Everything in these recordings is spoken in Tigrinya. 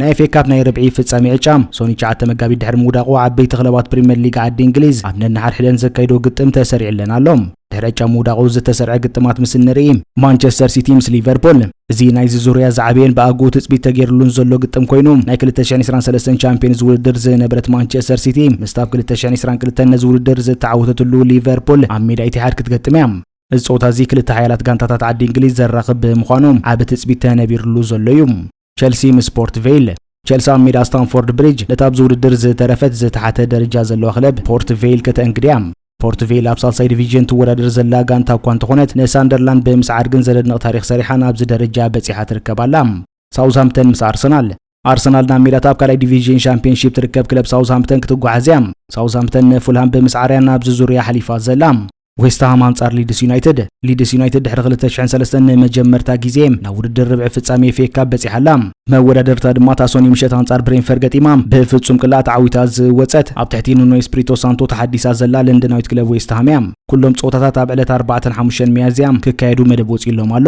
ናይ ኤፍኤ ካፕ ናይ ርብዒ ፍጻሜ ዕጫ ሶኒ ትሽዓተ መጋቢት ድሕሪ ምውዳቑ ዓበይቲ ክለባት ፕሪምየር ሊግ ዓዲ እንግሊዝ ኣብ ነንሓድሕደን ዘካይዶ ግጥም ተሰሪዕለን ኣሎ። ድሕሪ ዕጫ ምውዳቑ ዝተሰርዐ ግጥማት ምስ እንርኢ ማንቸስተር ሲቲ ምስ ሊቨርፑል እዚ ናይዚ ዙርያ ዝዓበየን ብኣግኡ ትጽቢት ተገይርሉን ዘሎ ግጥም ኮይኑ ናይ 2023 ቻምፒዮንስ ውድድር ዝነበረት ማንቸስተር ሲቲ ምስቲ ኣብ 2022 ነዚ ውድድር ዝተዓወተትሉ ሊቨርፑል ኣብ ሜዳ ኢትሓድ ክትገጥም እያ። እዚ ጸወታ እዚ ክልተ ሓያላት ጋንታታት ዓዲ እንግሊዝ ዘራኽብ ብምዃኑ ዓቢ ትጽቢት ተነቢርሉ ዘሎ እዩ። ቸልሲ ምስ ፖርት ቬይል ቸልሲ ኣብ ሜዳ ስታንፎርድ ብሪጅ ነታ ኣብዚ ውድድር ዝተረፈት ዝተሓተ ደረጃ ዘለዋ ክለብ ፖርት ቬይል ከተእንግድ እያ። ፖርት ቬይል ኣብ ሳልሳይ ዲቪዥን ትወዳደር ዘላ ጋንታ እኳ እንተኾነት ንሳንደርላንድ ብምስዓር ግን ዘደንቕ ታሪኽ ሰሪሓ ናብዚ ደረጃ በጺሓ ትርከብ ኣላ። ሳውዝሃምፕተን ምስ ኣርሰናል ኣርሰናል ናብ ሜዳታ ኣብ ካልኣይ ዲቪዥን ሻምፒዮንሺፕ ትርከብ ክለብ ሳውዝሃምፕተን ክትጓዓዝ እያ። ሳውዝሃምፕተን ንፉልሃም ብምስዓር እያ ናብዚ ዙርያ ሓሊፋ ዘላ። ዌስትሃም ኣንጻር ሊድስ ዩናይትድ ሊድስ ዩናይትድ ድሕሪ 2003 ንመጀመርታ ግዜ ናብ ውድድር ርብዒ ፍጻሜ ኤፍኤ ካፕ በጺሓ ኣላ። መወዳደርታ ድማ እታ ሶኒ ምሸት ኣንጻር ብሬንፈር ገጢማ ብፍጹም ቅላዕ ተዓዊታ ዝወጸት ኣብ ትሕቲ ኑኖ ኤስፕሪቶ ሳንቶ ተሓዲሳ ዘላ ለንደናዊት ክለብ ዌስትሃም እያ። ኩሎም ጸወታታት ኣብ ዕለት 4 5 ሚያዝያ ክካየዱ መደብ ወጺኡሎም ኣሎ።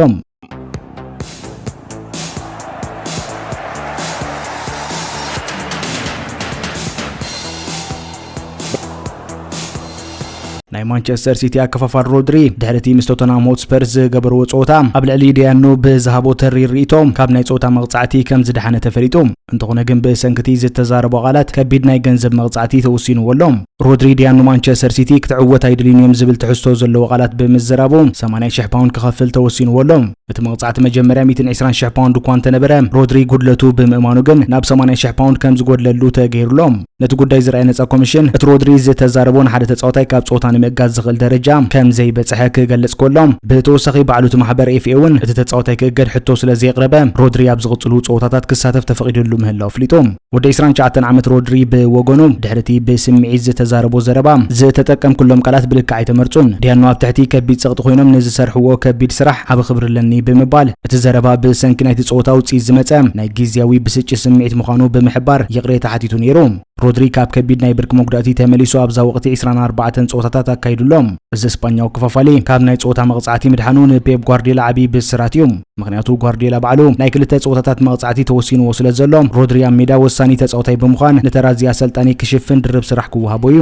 ናይ ማንቸስተር ሲቲ ኣከፋፋል ሮድሪ ድሕሪ እቲ ምስ ቶተናም ሆትስፐርስ ዝገበርዎ ጸወታ ኣብ ልዕሊ ደያኑ ብዝሃቦ ተሪ ርእቶም ካብ ናይ ጸወታ መቕጻዕቲ ከም ዝደሓነ ተፈሊጡ እንተኾነ ግን ብሰንክቲ ዝተዛረቦ ቃላት ከቢድ ናይ ገንዘብ መቕጻዕቲ ተወሲንዎ ኣሎ ሮድሪ ድያ ንማንቸስተር ሲቲ ክትዕወት ኣይድልዩን እዮም ዝብል ትሕዝቶ ዘለዎ ቃላት ብምዝራቡ 80 ሽሕ ፓውንድ ክኸፍል ተወሲንዎ ኣሎ። እቲ መቕጻዕቲ መጀመርያ 120 ሽሕ ፓውንድ እኳ እንተነበረ ሮድሪ ጉድለቱ ብምእማኑ ግን ናብ 80 ሽሕ ፓውንድ ከም ዝጎድለሉ ተገይሩሎ። ነቲ ጉዳይ ዝረኣየ ነጻ ኮሚሽን እቲ ሮድሪ ዝተዛረቦ ንሓደ ተጻዋታይ ካብ ጸወታ ንምእጋድ ዝኽእል ደረጃ ከም ዘይበጽሐ ክገልጽ ከሎ ብተወሳኺ ባዕሉ እቲ ማሕበር ኤፍኤ እውን እቲ ተጻዋታይ ክእገድ ሕቶ ስለ ዘየቕረበ ሮድሪ ኣብ ዝቕጽሉ ጸወታታት ክሳተፍ ተፈቒድሉ ምህላው ኣፍሊጡ። ወዲ ዕስራን ትሽዓተን ዓመት ሮድሪ ብወገኑ፣ ድሕሪ'ቲ ብስምዒት ዝተዛረቦ ዘረባ፣ ዝተጠቀምኩሎም ቃላት ብልክዕ ኣይተመርጹን። ዲያኖ ኣብ ትሕቲ ከቢድ ጸቕጢ ኰይኖም ንዝሰርሕዎ ከቢድ ስራሕ ዓቢ ክብሪ ኣለኒ ብምባል፣ እቲ ዘረባ ብሰንኪ ናይቲ ጸወታ ውጽኢት ዝመጸ ናይ ግዝያዊ ብስጭት ስምዒት ምዃኑ ብምሕባር ይቕሬታ ሓቲቱ ነይሩ። ሮድሪ ካብ ከቢድ ናይ ብርኪ መጉዳእቲ ተመሊሱ ኣብዛ ወቕቲ ዕስራን ኣርባዕተን ጸወታታት ኣካይዱ ኣሎ። እዚ ስጳኛዊ ክፋፋሊ ካብ ናይ ጸወታ መቕጻዕቲ ምድሓኑ ንፔፕ ጓርድዮላ ዓቢ ብስራት እዩ። ምኽንያቱ ጓርድዮላ ባዕሉ ናይ ክልተ ጸወታታት መቕጻዕቲ ተወሲንዎ ስለዘሎ፣ ሮድሪ ኣብ ሜዳ ወሳኒ ተጻዋታይ ብምዃን ንተራ እዚ ኣሰልጣኒ ክሽፍን ድርብ ስራሕ ክወሃቦ እዩ።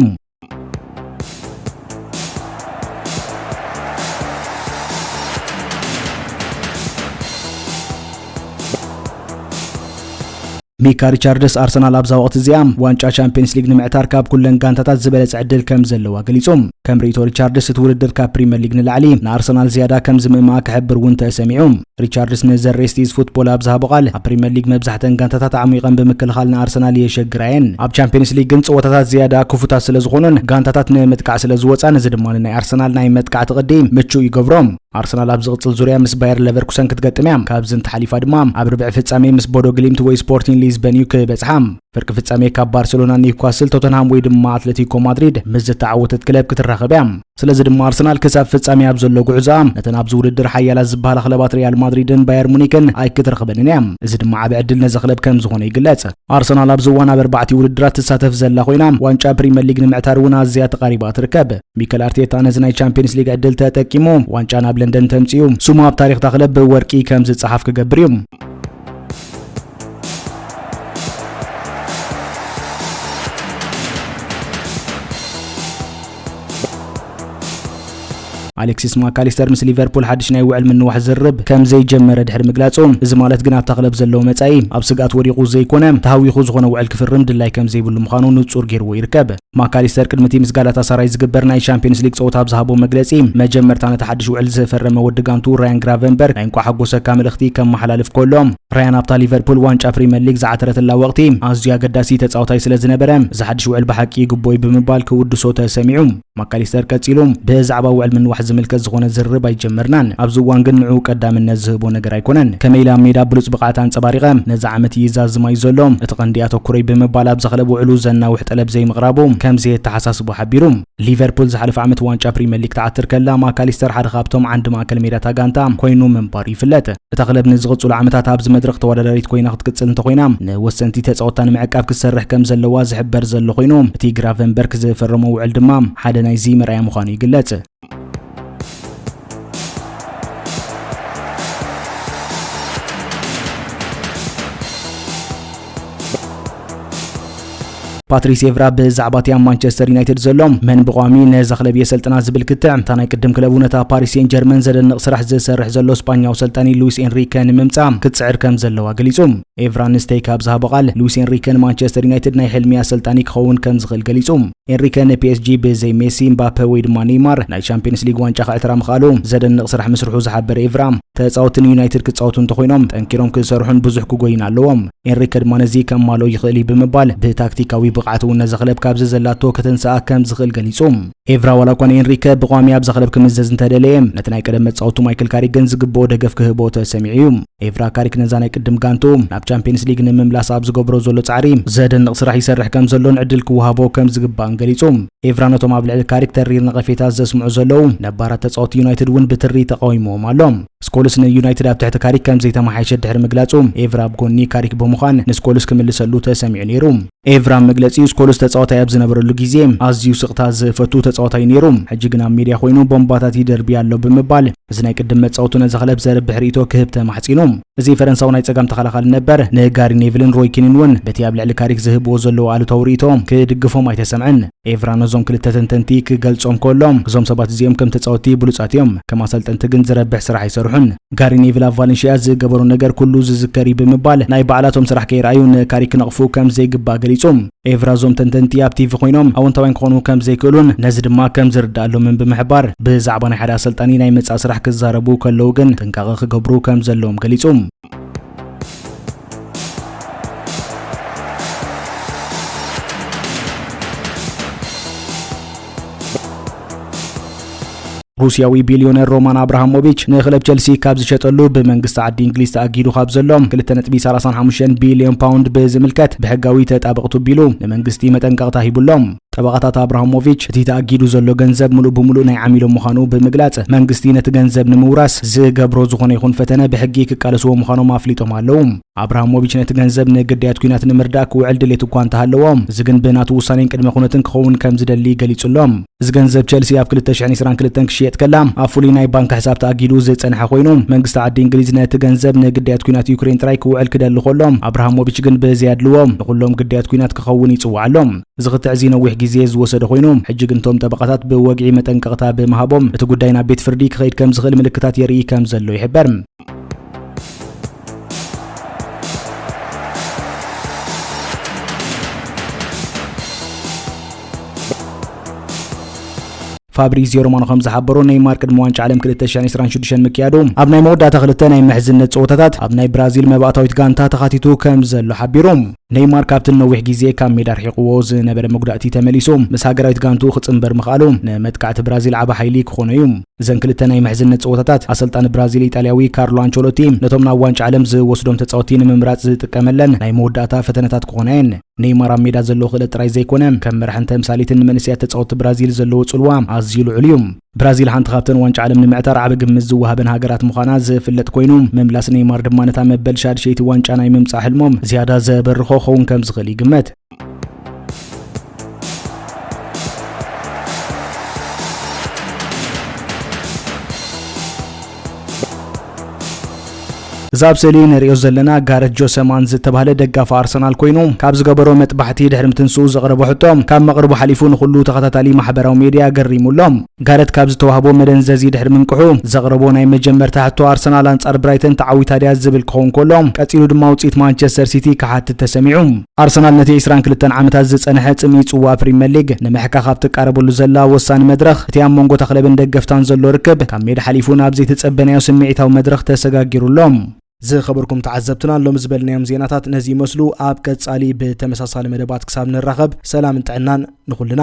ሚካ ሪቻርድስ፣ ኣርሰናል ኣብዛ ወቕቲ እዚኣ ዋንጫ ቻምፕየንስ ሊግ ንምዕታር ካብ ኩለን ጋንታታት ዝበለጸ ዕድል ከም ዘለዋ ገሊጹ። ከም ርእይቶ ሪቻርድስ፣ እቲ ውድድር ካብ ፕሪምየር ሊግ ንላዕሊ ንኣርሰናል ዝያዳ ከም ዝምእምኣ ክሕብር እውን ተሰሚዑ። ሪቻርድስ ንዘ ሬስት ኢዝ ፉትቦል ኣብ ዝሃቦ ቃል፣ ኣብ ፕሪምየር ሊግ መብዛሕተን ጋንታታት ኣዕሚቐን ብምክልኻል ንኣርሰናል የሸግራ እየን። ኣብ ቻምፕየንስ ሊግ ግን ጸወታታት ዝያዳ ክፉታት ስለ ዝኾኑን ጋንታታት ንምጥቃዕ ስለ ዝወጻን፣ እዚ ድማ ንናይ ኣርሰናል ናይ መጥቃዕቲ ቅዲ ምቹእ ይገብሮ። ኣርሰናል ኣብ ዝቕጽል ዙርያ ምስ ባየር ለቨርኩሰን ክትገጥም እያ። ካብዚ እንተሓሊፋ ድማ ኣብ ርብዒ ፍጻሜ ምስ ቦዶ ግሊምት ወይ ስፖርቲን ሊዝበን እዩ ክበጽሓ። ፍርቂ ፍጻሜ ካብ ባርሴሎና፣ ኒውካስል፣ ቶተንሃም ወይ ድማ ኣትለቲኮ ማድሪድ ምስ ዝተዓወተት ክለብ ክትራኸብ እያ። ስለዚ ድማ ኣርሰናል ክሳብ ፍጻሜ ኣብ ዘሎ ጉዕዞኣ ነተን ኣብዚ ውድድር ሓያላት ዝበሃላ ክለባት ሪያል ማድሪድን ባየር ሙኒክን ኣይክትረኽበንን እያ። እዚ ድማ ዓቢ ዕድል ነዚ ክለብ ከም ዝኾነ ይግለጽ። ኣርሰናል ኣብዚ እዋን ኣብ ኣርባዕቲ ውድድራት ትሳተፍ ዘላ ኮይና ዋንጫ ፕሪምየር ሊግ ንምዕታር እውን ኣዝያ ተቓሪባ ትርከብ። ሚከል ኣርቴታ ነዚ ናይ ቻምፒየንስ ሊግ ዕድል ተጠቂሙ ዋንጫ ናብ ለንደን ተምፅኡ ስሙ ኣብ ታሪክ ታክለብ ብወርቂ ከም ዝፀሓፍ ክገብር እዩ ኣሌክሲስ ማካሊስተር ምስ ሊቨርፑል ሓድሽ ናይ ውዕል ምንዋሕ ዝርብ ከም ዘይጀመረ ድሕሪ ምግላጹ እዚ ማለት ግን ኣብታ ክለብ ዘለዎ መጻኢ ኣብ ስግኣት ወዲቑ ዘይኮነ ተሃዊኹ ዝኾነ ውዕል ክፍርም ድላይ ከም ዘይብሉ ምዃኑ ንጹር ገይርዎ ይርከብ ማካሊስተር ቅድሚቲ ምስ ጋላታሳራይ ዝግበር ናይ ሻምፒዮንስ ሊግ ጸወታ ኣብ ዝሃቦ መግለጺ፣ መጀመርታ ነቲ ሓድሽ ውዕል ዝፈረመ ወዲ ጋንቱ ራያን ግራቨንበርግ ናይ እንቋዕ ሓጎሰካ መልእኽቲ ከመሓላልፍ ከሎ፣ ራያን ኣብታ ሊቨርፑል ዋንጫ ፕሪመር ሊግ ዝዓተረትላ ወቕቲ ኣዝዩ ኣገዳሲ ተጻዋታይ ስለ ዝነበረ፣ እዚ ሓድሽ ውዕል ብሓቂ ይግብኦ'ዩ ብምባል ክውድሶ ተሰሚዑ። ማካሊስተር ቀጺሉ፣ ብዛዕባ ውዕል ምንዋሕ ዝምልከት ዝኾነ ዝርርብ ኣይጀመርናን፣ ኣብዚ እዋን ግን ንዕኡ ቀዳምነት ዝህቦ ነገር ኣይኮነን። ከመይ ኢለ ኣብ ሜዳ ብሉጽ ብቕዓት ኣንጸባሪቐ ነዚ ዓመት ይዛዝማ'ዩ ዘሎ፣ እቲ ቀንዲ ኣተኩሮይ ብምባል ኣብዛ ክለብ ውዕሉ ዘናውሕ ጠለብ ዘይምቕራቡ ከም ዘየተሓሳስቦ ሓቢሩ። ሊቨርፑል ዝሓለፈ ዓመት ዋንጫ ፕሪምየር ሊግ ትዓትር ከላ ማካሊስተር ሓደ ካብቶም ዓንዲ ማእከል ሜዳታ ጋንታ ኮይኑ ምንባሩ ይፍለጥ። እታ ክለብ ንዝቕጽሉ ዓመታት ኣብዚ መድረኽ ተወዳዳሪት ኮይና ክትቅጽል እንተኾይና ንወሰንቲ ተጻወትታ ንምዕቃብ ክትሰርሕ ከም ዘለዋ ዝሕበር ዘሎ ኮይኑ እቲ ግራቨንበርክ ዝፈረሞ ውዕል ድማ ሓደ ናይዚ መርኣያ ምዃኑ ይግለጽ። ፓትሪስ ኤቭራ ብዛዕባ እቲ ኣብ ማንቸስተር ዩናይትድ ዘሎ መን ብቋሚ ነዛ ክለብ የሰልጥና ዝብል ክትዕ እታ ናይ ቅድም ክለቡ ነታ ፓሪስ ሴን ጀርመን ዘደንቕ ስራሕ ዝሰርሕ ዘሎ ስጳኛዊ ሰልጣኒ ሉዊስ ኤንሪከ ንምምጻእ ክትጽዕር ከም ዘለዋ ገሊጹ ኤቭራ ንስተይ ካብ ዝሃቦ ቃል ሉዊስ ኤንሪከ ንማንቸስተር ዩናይትድ ናይ ሕልሚ ኣሰልጣኒ ክኸውን ከም ዝኽእል ገሊጹ ኤንሪከ ንፒኤስጂ ብዘይ ሜሲ፣ ምባፐ ወይ ድማ ኔይማር ናይ ቻምፕዮንስ ሊግ ዋንጫ ከዕትራ ምኽኣሉ ዘደንቕ ስራሕ ምስርሑ ዝሓበረ ኤቭራ፣ ተጻወትቲ ንዩናይትድ ክጻወቱ እንተኾይኖም ጠንኪሮም ክሰርሑን ብዙሕ ክጎዩን ኣለዎም። ኤንሪከ ድማ ነዚ ከማልኦ ይኽእል እዩ ብምባል ብታክቲካዊ ብቕዓት እውን ነዛ ክለብ ካብዚ ዘላቶ ከተንስኣ ከም ዝኽእል ገሊጹ። ኤቭራ ዋላ እኳ ንኤንሪከ ብቋሚ ኣብዛ ክለብ ክምዘዝ እንተደለየ፣ ነቲ ናይ ቀደም መጻወቱ ማይክል ካሪክ ግን ዝግብኦ ደገፍ ክህቦ ተሰሚዑ እዩ። ኤቭራ ካሪክ ነዛ ናይ ቅድም ጋንትኡ ናብ ቻምፒየንስ ሊግ ንምምላስ ኣብ ዝገብሮ ዘሎ ጻዕሪ ዘደንቕ ስራሕ ይሰርሕ ከም ዘሎን ዕድል ክወሃቦ ከም ዝግባእን ገሊጹ። ኤቭራ ነቶም ኣብ ልዕሊ ካሪክ ተሪር ነቐፌታት ዘስምዑ ዘለዉ ነባራት ተጻወቲ ዩናይትድ እውን ብትሪ ተቓዊምዎም ኣሎ። ስኮልስ ንዩናይትድ ኣብ ትሕቲ ካሪክ ከም ዘይተመሓየሸ ድሕሪ ምግላጹ፣ ኤቭራ ኣብ ጎኒ ካሪክ ብምዃን ንስኮልስ ክምልሰሉ ተሰሚዑ ነይሩ። ኤቭራ ኣብ መግለጺኡ ስኮልስ ተጻዋታይ ኣብ ዝነበረሉ ግዜ ኣዝዩ ስቕታ ዝፈቱ ተጻዋታይ ነይሩ፣ ሕጂ ግን ኣብ ሜድያ ኮይኑ ቦምባታት ይደርቢ ኣሎ ብምባል እዚ ናይ ቅድም መጻወቱ ነዚ ክለብ ዘርብሕ ርእይቶ ክህብ ተማሕጺኑ። እዚ ፈረንሳዊ ናይ ጸጋም ተኸላኻሊ ነበር፣ ንጋሪ ኔቭልን ሮይ ኪንን እውን በቲ ኣብ ልዕሊ ካሪክ ዝህብዎ ዘለዉ ኣሉታዊ ርእይቶ ክድግፎም ኣይተሰምዐን። ኤቭራ ነዞም ክልተ ተንተንቲ ክገልጾም ከሎ፣ እዞም ሰባት እዚኦም ከም ተጻወትቲ ብሉጻት እዮም፣ ከም ኣሰልጠንቲ ግን ዝረብሕ ስራሕ ኣይሰርሑን። ጋሪ ኔቭል ኣብ ቫለንሺያ ዝገበሮ ነገር ኩሉ ዝዝከር እዩ ብምባል ናይ ባዕላቶም ስራሕ ከየርኣዩ ንካሪክ ክነቕፉ ከም ዘይግባእ ገሊጹ። ኤቭራ እዞም ተንተንቲ ኣብ ቲቪ ኮይኖም ኣወንታውያን ክኾኑ ከም ዘይክእሉን ነዚ ድማ ከም ዝርድኣሎምን ብምሕባር፣ ብዛዕባ ናይ ሓደ ኣሰልጣኒ ናይ ምጻእ ስራሕ ክዛረቡ ከለዉ ግን ጥንቃቐ ክገብሩ ከም ዘለዎም ገሊጹ። ሩስያዊ ቢልዮነር ሮማን ኣብርሃሞቪች ንክለብ ቸልሲ ካብ ዝሸጠሉ ብመንግስቲ ዓዲ እንግሊዝ ተኣጊዱ ካብ ዘሎ 2.35 ቢልዮን ፓውንድ ብዝምልከት ብሕጋዊ ተጣበቕቱ ቢሉ ንመንግስቲ መጠንቀቕታ ሂቡሎም ጠበቓታት ኣብርሃሞቪች እቲ ተኣጊዱ ዘሎ ገንዘብ ምሉእ ብምሉእ ናይ ዓሚሎም ምዃኑ ብምግላጽ መንግስቲ ነቲ ገንዘብ ንምውራስ ዝገብሮ ዝኾነ ይኹን ፈተነ ብሕጊ ክቃለስዎ ምዃኖም ኣፍሊጦም ኣለዉ ኣብራሃሞቪች ነቲ ገንዘብ ንግዳያት ኲናት ንምርዳእ ክውዕል ድሌት እኳ እንተሃለዎ፣ እዚ ግን ብናቱ ውሳኔን ቅድመ ኩነትን ክኸውን ከም ዝደሊ ገሊጹ ኣሎ። እዚ ገንዘብ ቸልሲ ኣብ 2022 ክሽየጥ ከላ ኣብ ፍሉይ ናይ ባንክ ሕሳብ ተኣጊዱ ዝጸንሐ ኮይኑ፣ መንግስቲ ዓዲ እንግሊዝ ነቲ ገንዘብ ንግዳያት ኲናት ዩክሬን ጥራይ ክውዕል ክደሊ ከሎ፣ ኣብራሃሞቪች ግን ብዘያድልዎ ንኹሎም ግዳያት ኲናት ክኸውን ይጽውዓ ኣሎ። እዚ ክትዕ እዚ ነዊሕ ግዜ ዝወሰደ ኮይኑ፣ ሕጂ ግን እቶም ጠበቓታት ብወግዒ መጠንቀቕታ ብምሃቦም እቲ ጉዳይ ናብ ቤት ፍርዲ ክኸይድ ከም ዝኽእል ምልክታት የርኢ ከም ዘሎ ይሕበር። ፋብሪዚዮ ሮማኖ ከም ዝሓበሮ ነይማር ቅድሚ ዋንጫ ዓለም 2026 ምክያዱ ኣብ ናይ መወዳእታ ክልተ ናይ ምሕዝነት ፀወታታት ኣብ ናይ ብራዚል መባእታዊት ጋንታ ተኻቲቱ ከም ዘሎ ሓቢሩ ነይማር ካብቲ ንነዊሕ ግዜ ካብ ሜዳ ኣርሒቕዎ ዝነበረ መጉዳእቲ ተመሊሱ ምስ ሃገራዊት ጋንትኡ ክጽንበር ምኽኣሉ ንመጥቃዕቲ ብራዚል ዓቢ ሓይሊ ክኾኖ እዩ። እዘን ክልተ ናይ ምሕዝነት ጸወታታት፣ ኣሰልጣኒ ብራዚል ኢጣልያዊ ካርሎ ኣንቸሎቲ ነቶም ናብ ዋንጫ ዓለም ዝወስዶም ተጻወትቲ ንምምራጽ ዝጥቀመለን ናይ መወዳእታ ፈተነታት ክኾና እየን። ነይማር ኣብ ሜዳ ዘለዎ ክእለት ጥራይ ዘይኮነ፣ ከም መራሕን ተምሳሌትን ንመንእሰያት ተጻወትቲ ብራዚል ዘለዎ ጽልዋ ኣዝዩ ልዑል እዩ። ብራዚል ሓንቲ ካብተን ዋንጫ ዓለም ንምዕታር ዓቢ ግምት ዝወሃበን ሃገራት ምዃና ዝፍለጥ ኮይኑ ምምላስ ኔይማር ድማ ነታ መበል ሻድሸይቲ ዋንጫ ናይ ምምጻእ ሕልሞም ዝያዳ ዘበርኾ ክኸውን ከም ዝኽእል ይግመት። እዚ ኣብ ስእሊ ንርእዮ ዘለና ጋረት ጆሰማን ዝተባህለ ደጋፊ ኣርሰናል ኮይኑ ካብ ዝገበሮ መጥባሕቲ ድሕሪ ምትንስኡ ዘቕረቦ ሕቶ ካብ መቕርቡ ሓሊፉ ንኹሉ ተኸታታሊ ማሕበራዊ ሜድያ ገሪሙ ኣሎ። ጋረት ካብ ዝተዋህቦ መደንዘዚ ድሕሪ ምንቅሑ ዘቕረቦ ናይ መጀመርታ ሕቶ ኣርሰናል ኣንጻር ብራይተን ተዓዊታ ድያ ዝብል ክኸውን ከሎ ቀጺሉ ድማ ውጽኢት ማንቸስተር ሲቲ ክሓትት ተሰሚዑ። ኣርሰናል ነቲ ዕስራን ክልተን ዓመታት ዝጸንሐ ጽምኢ ጽዋእ ፕሪመር ሊግ ንምሕካኽ ኣብ ትቃረበሉ ዘላ ወሳኒ መድረኽ፣ እቲ ኣብ መንጎ እታ ክለብን ደገፍታን ዘሎ ርክብ ካብ ሜዳ ሓሊፉ ናብ ዘይተጸበናዮ ስምዒታዊ መድረኽ ተሰጋጊሩ ኣሎ። ዝኸበርኩም ተዓዘብትና ሎሚ ዝበልናዮም ዜናታት ነዚ ይመስሉ። ኣብ ቀጻሊ ብተመሳሳሊ መደባት ክሳብ ንራኸብ ሰላምን ጥዕናን ንኹልና።